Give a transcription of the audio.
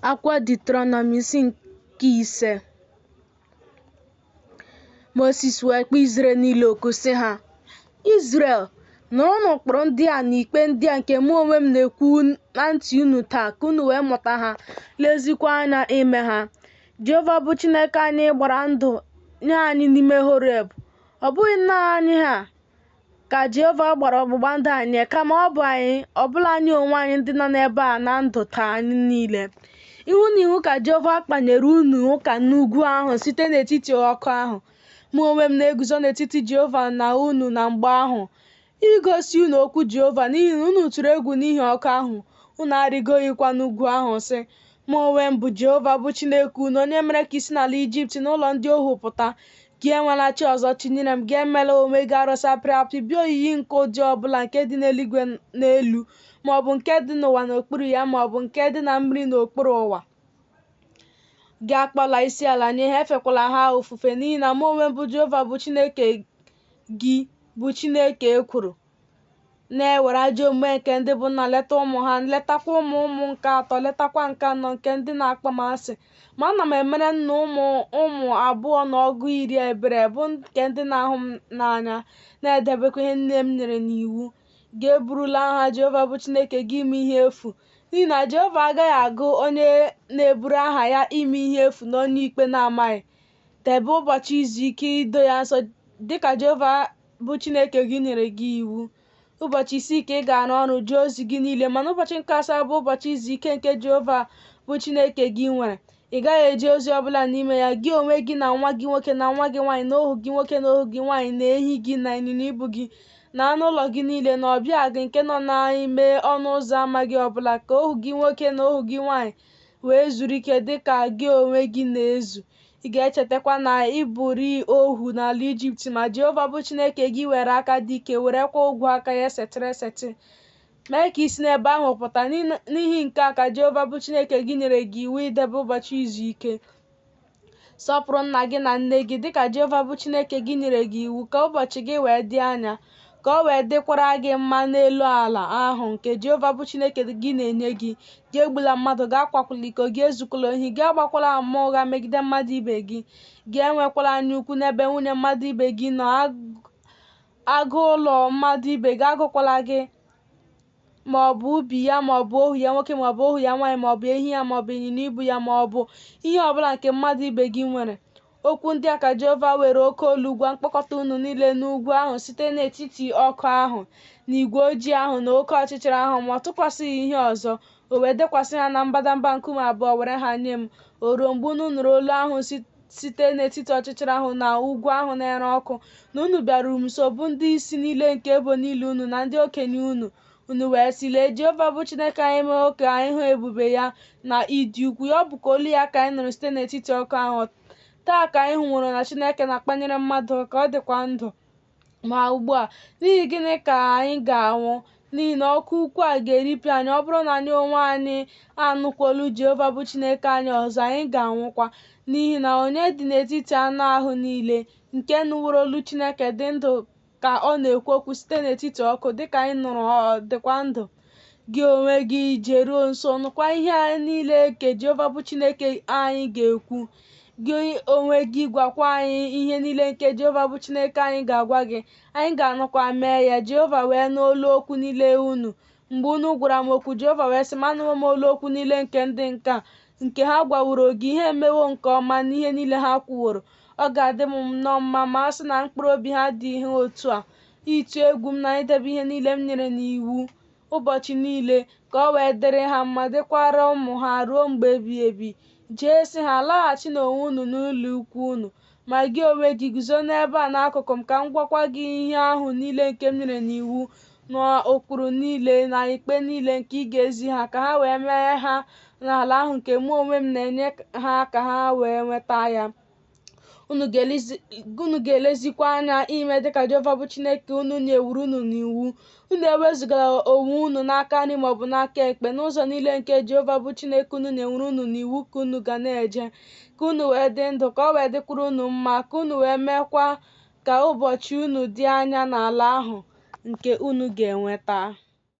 Akwụkwọ Diuteronomi isi nke ise Moses wee kpọọ Izrel niile oku sị ha Izrel nụrụnụ ụkpụrụ ndị a na ikpe ndị a nke mụ onwe m na-ekwu na ntị unu taa ka unu wee mụta ha lezikwa anya ime ha Jehova bụ Chineke anyị gbara ndụ nye anyị n'ime Horeb ọ bụghị nna anyị ha ka Jehova gbara ọgbụgba ndụ a nye kama ọ bụ anyị ọ bụla anyị onwe anyị ndị nọ n'ebe a na ndụ taa anyị niile ihu na ihu ka Jehova kpanyere unu ụka n'ugwu ahụ site n'etiti ọkụ ahụ mụ onwe m na-eguzo n'etiti Jehova na unu na mgbe ahụ igosi unu okwu Jehova n'ihi na unu tụrụ egwu n'ihi ọkụ ahụ unu arịgoghịkwa n'ugwu ahụ sị Mụ onwe m bụ Jehova bụ Chineke unu, onye mere ka i si n'ala Ijipt na ụlọ ndị ohu pụta. Gị enwela chi ọzọ tinyere m, gị emela onwe gị arụsị apịrị apị, bụ oyiyi nke ụdị ọ bụla nke dị n'eluigwe n'elu, ma ọ bụ nke dị n'ụwa n'okpuru ya, ma ọ bụ nke dị na mmiri n'okpuru ụwa. Gị akpọla isi ala nye ha, efekwala ha ofufe, n'ihi na mụ onwe m bụ Jehova bụ Chineke gị, bụ Chineke ekworo. na-ewere ajọ omume nke ndị bụ nna leta ụmụ ha letakwa ụmụ ụmụ nke atọ letakwa nke anọ nke ndị na-akpọ m asị ma ana m emere nnụ ụmụ abụọ na ọgụ iri ebere bụ nke ndị na-ahụ m n'anya na-edebekwa ihe niile m nyere n'iwu gị eburula aha jehova bụ chineke gị ime ihe efu n'ihi na jehova agaghị agụ onye na-eburu aha ya ime ihe efu na onye ikpe na-amaghị debe ụbọchị izu ike ido ya nsọ dịka jehova bụ Chineke gị nyere gị iwu ụbọchị isii ka ị ga-arụ ọrụ jee ozi gị niile mana ụbọchị nke asaa bụ ụbọchị izu ike nke Jehova bụ Chineke gị nwere ị gaghị eje ozi ọbụla n'ime ya gị onwe gị na nwa gị nwoke na nwa gị nwaanyị na ohu gị nwoke na ohu gị nwaanyị na ehi gị na ịnyịnya ibu gị na anụ ụlọ gị niile na ọbịa gị nke nọ n'ime ọnụ ụzọ ama gị ọbụla ka ohu gị nwoke na ohu gị nwaanyị wee zuru ike dị ka gị onwe gị na-ezu Ị ga-echetakwa na ị bụrịị ohu n'ala Ijipt, ma Jehova bụ Chineke gị were aka dị ike werekwa ogwe aka ya esetịrị esetị mee ka i si n'ebe ahụ pụta. N'ihi nke a ka Jehova bụ Chineke gị nyere gị iwu idebe ụbọchị izu ike. Sọpụrụ nna gị na nne gị, dịka Jehova bụ Chineke gị nyere gị iwu, ka ụbọchị gị wee dị anya. ka o wee dịkwara gị mma n'elu ala ahụ nke Jehova bụ Chineke gị na-enye gị. Gị egbula mmadụ, gị akwakwala iko, gị ezukwala ohi, gị agbakwala ama ụgha megide mmadụ ibe gị. Gị enwekwala anyaukwu n'ebe nwunye mmadụ ibe gị nọ, agụ ụlọ mmadụ ibe gị agụkwala gị, ma ọ bụ ubi ya ma ọ bụ ohu ya nwoke ma ọ bụ ohu ya nwaanyị ma ọ bụ ehi ya ma ọ bụ ịnyịnya ibu ya ma ọ bụ ihe ọ bụla nke mmadụ ibe gị nwere. Okwu ndị a ka Jehova were oke olu gwa mkpọkọta unu niile n'ugwu ahụ site n'etiti ọkụ ahụ na igwe ojii ahụ na oke ọchịchịrị ahụ, ma ọ tụkwasịghị ihe ọzọ. O wee dekwasị ha na mbadamba nkume abụọ were ha nye m. O ruo mgbe unu nụrụ olu ahụ site n'etiti ọchịchịrị ahụ na ugwu ahụ na-ere ọkụ, na unu bịaruru m nso, bụ ndị isi niile nke ebo niile unu na ndị okenye unu, Unu wee sị, Lee, Jehova bụ Chineke anyị emewo ka anyị hụ ebube ya na ịdị ukwu ya. Ọ bụ ka olu ya ka anyị nụrụ site n'etiti ọkụ ahụ. Taa ka anyị hụworo na Chineke na-akpanyere mmadụ ụka, ọ dịkwa ndụ. Ma ugbu a, n'ihi gịnị ka anyị ga-anwụ? N'ihi na ọkụ ukwu a ga-eripịa anyị. Ọ bụrụ na anyị onwe anyị anụkwa olu Jehova bụ Chineke anyị ọzọ, anyị ga-anwụkwa. N'ihi na onye dị n'etiti anụ ahụ niile nke nụworo olu Chineke dị ndụ ka ọ na-ekwu okwu site n'etiti ọkụ dịka anyị nụrụ ọ dịkwa ndụ gị onwe gị jeruo nso nụkwa ihe niile nke jehova bụ chineke anyị ga-ekwu gị onwe gị gwakwa anyị ihe niile nke jehova bụ chineke anyị ga-agwa gị anyị ga-anụkwa mee ya jehova wee nụ olu okwu niile unu mgbe unu gwara m okwu jehova wee sị m anụwo m olu okwu niile nke ndị nke a nke ha gwaworo gị, ha emewo nke ọma n'ihe niile ha kwuworo. Ọ ga-adị m nnọọ mma ma a sị na mkpụrụ obi ha dị ha otu a, ịtụ egwu m na idebe ihe niile m nyere n'iwu ụbọchị niile, ka ọ wee dịrị ha mma, dịkwara ụmụ ha ruo mgbe ebighị ebi. Jee sị ha, Laghachinụ onwe unu n'ụlọ ikwu unu. Ma gị onwe gị guzo n'ebe a n'akụkụ m ka m gwakwa gị ihe ahụ niile nke m nyere n'iwu na ụkpụrụ niile na ikpe niile nke ị ga-ezi ha ka ha wee mee ha n'ala ahụ nke mụ onwe m na-enye ha ka ha wee nweta ya unu ga-elezikwa anya ime dịka Jehova bụ Chineke unu nyeworo unu n'iwu Unu ewezụgala onwe unu n'aka nri ma ọ bụ n'aka ekpe n'ụzọ niile nke Jehova bụ Chineke unu nyeworo unu n'iwu ka unu ga na-eje, ka unu wee dị ndụ, ka ọ wee dịkwara unu mma, ka unu wee meekwa ka ụbọchị unu dị anya n'ala ahụ nke unu ga-enweta.